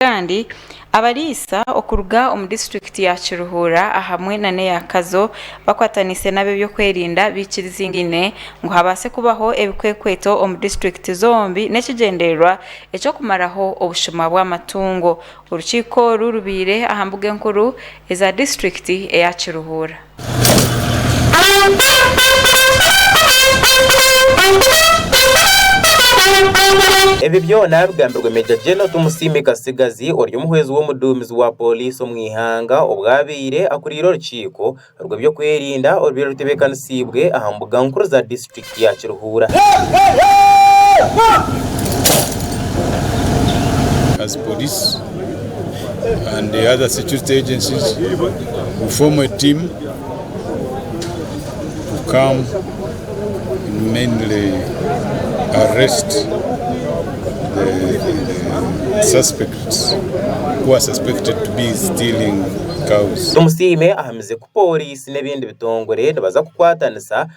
Kandi abariisa okuruga omu disiturikiti ya Kiruhura ahamwe na n'eya Kazo bakwataniise n'ab'ebyokwerinda baikiriziine ngu habaase kubaho ebikwekweto omu disiturikiti zombi n'ekigyendererwa eky'okumaraho obushuma bw'amatungo. Orukiiko oru rubaire aha mbuga enkuru eza disiturikiti eya Kiruhura. Ebi byona bigambirwe Major General Tumusiime Katsigazi ori omuhwezi w'omuduumizi wa Poliisi omu ihanga obwo abaire akuriire orukiiko rw'ebyokwerinda orwaire rutebeekanisiibwe aha mbuga nkuru za Disiturikiti. Piki ya kiruhuura. as police and the other security agencies, we form a team to come and mainly arrest the, the suspects who are suspected to be stealing cows. Tumusiime ahamize ku pooriisi n'ebindi bitongore nibaza kukwatanisa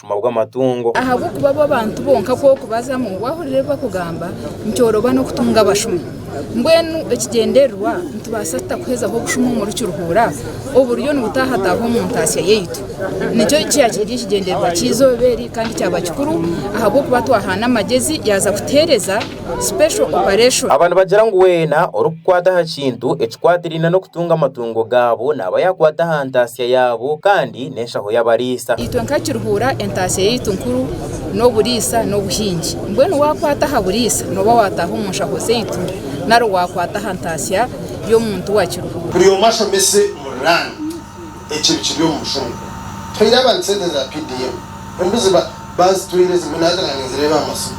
obushuma bw'amatungo. Ahabw'okuba bo bantu bonka kw'okubaza ngu waahurira ebi bakugamba, nikyorooba n'okutunga abashumi. Mbwenu ekigyendererwa, nitubaasa tuta kuhezaho obushuma omuri Kiruhura oburiyo nibutahataaha omu ntaatsya yaitu? Nikyo kyakiri ekigyendererwa ky'eizooba eri kandi kyaba kikuru ahabw'okuba twahaana amagyezi yaaza kutuheereza. special operation. Aba nibagira ngu weena orikukwata aha kintu ekikwatiraine n'okutunga amatungo gaabo naaba yaakwata aha ntaatsya yaabo kandi n'enshaho y'abariisa. Itwe nka Kiruhura entaatsya yaitu nkuru n'oburiisa n'obuhingi. Mbwenu waakwata aha buriisa nooba waataaha omu nshaho zaitu nari waakwata aha ntaatsya y'omuntu wa Kiruhura. Buri omwe ashomese omuri Rand ekyo ebikiri omu mushorogo. Tuhaire abantu sente za PDM. Embuzi ba. Bazitwire zibuna hati naanye nzireeba aha masimu.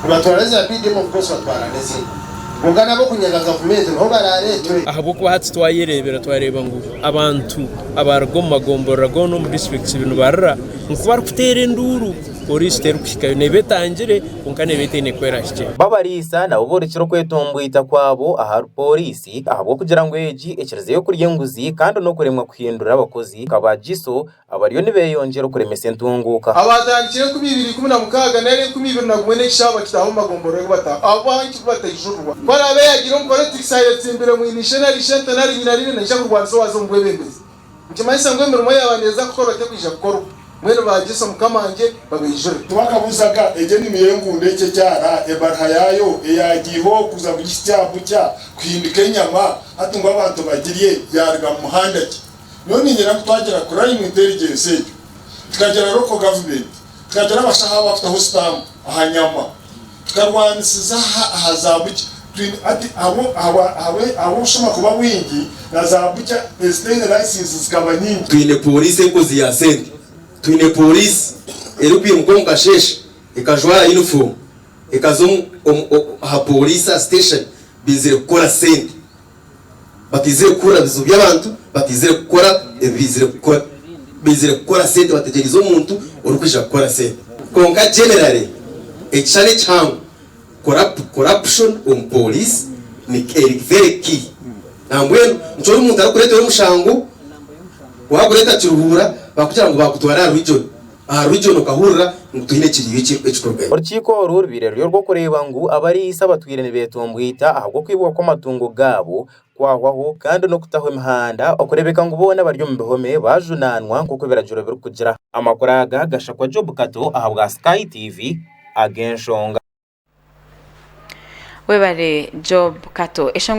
Nibatwara za BDM omu Bukosi batwara n'ezindi. Kwonka n'ab'okunyega gavumenti niho baraareetwe. Ahabw'okuba hati twayereebera twareeba ngu abantu abaaruga omu magomborora goona omu disiturikiti ibiri nibarira ngu barikuteera enduuru Poliisi terikuhikayo. Neeba etangire kwonka neeba etaine ku erahikye. Babariisa nabo borekire okwetomboita kwabo ahari Poliisi ahabw'okugira ngu egi ekirizeeyo kurya enguzi kandi n'okuremwa kuhindura abakozi nka ba GISO Abariyo nibeeyongyera okuremesa entunguuka. Abaatandikire enkumi ibiri ikumi na mukaaga nari enkumi ibiri na gumwe n'ekishaho bakitaaha omu magomborora agu bataaha aho baaho nki ku bataijururwa. Ku araabe yaagira omukoro otiisa ayetsimbire mwine ishe nari ishente nari nyina riine naija kurwanisa owaaza omu bwebembezi. Nikimanyisa ngu emirimo eyaaba neeza kukorwa tekwija kukorwa. Mbwenu baagyesa Omukama ngye babeijure. Tibakabuzaga egyo enimi y'enkundo ekyo ekyara ebaruha yaayo eyaagiiho kuza buri kitya bukya kuhindika enyama, hati ngu abantu bagirye yaaruga mu muhanda ki? Nyowe niinyenda ku twagira crime intelligence egyo, tukagira local government, tukagira abashaho abakutaho stamp aha nyama, tukarwanisiza aha aha za butcher. Twine hati ahabwo ahabwa ahabwe ahabw'obushuma kuba bwingi na za butcher ezitaine license zikaba nyingi. Twine pooriisi enkozi ya sente. Twine pooriisi erikwimuka omu kasheeshe ekajwara yunifoomu ekaza omu omu omu aha pooriisi aha station baizire kukora sente. Bataizire kuhurira bizibu by'abantu, bataizire kukora ebi baizire kukora. Baizire kukora sente bategyerize omuntu orikwija kukora sente. Kwonka generally ekishushani ekihango corrupt corruption omu police ni eri very key nambwenu nikyo omuntu arikukuretera omushango wagureeta kiruhuura bakugira ngu bakutwara aha region. Aha rw'igyo nokahurira ngu twine ekiriiryo ekirikurugayo. Orukiiko oru rubaire ruri orw'okureeba ngu abariisa abatwire nibeetumbwita ahabw'okwibwa kw'amatungo gaabo kwahwaho kandi n'okutahwa emihanda okureebeka ngu boona abari omu bihome baajunaanwa nk'oku ebiragiro birikugira. Amakuru aga gashakwa Job Kato ahabwa Sky TV ag'enshonga. Webare Job Kato.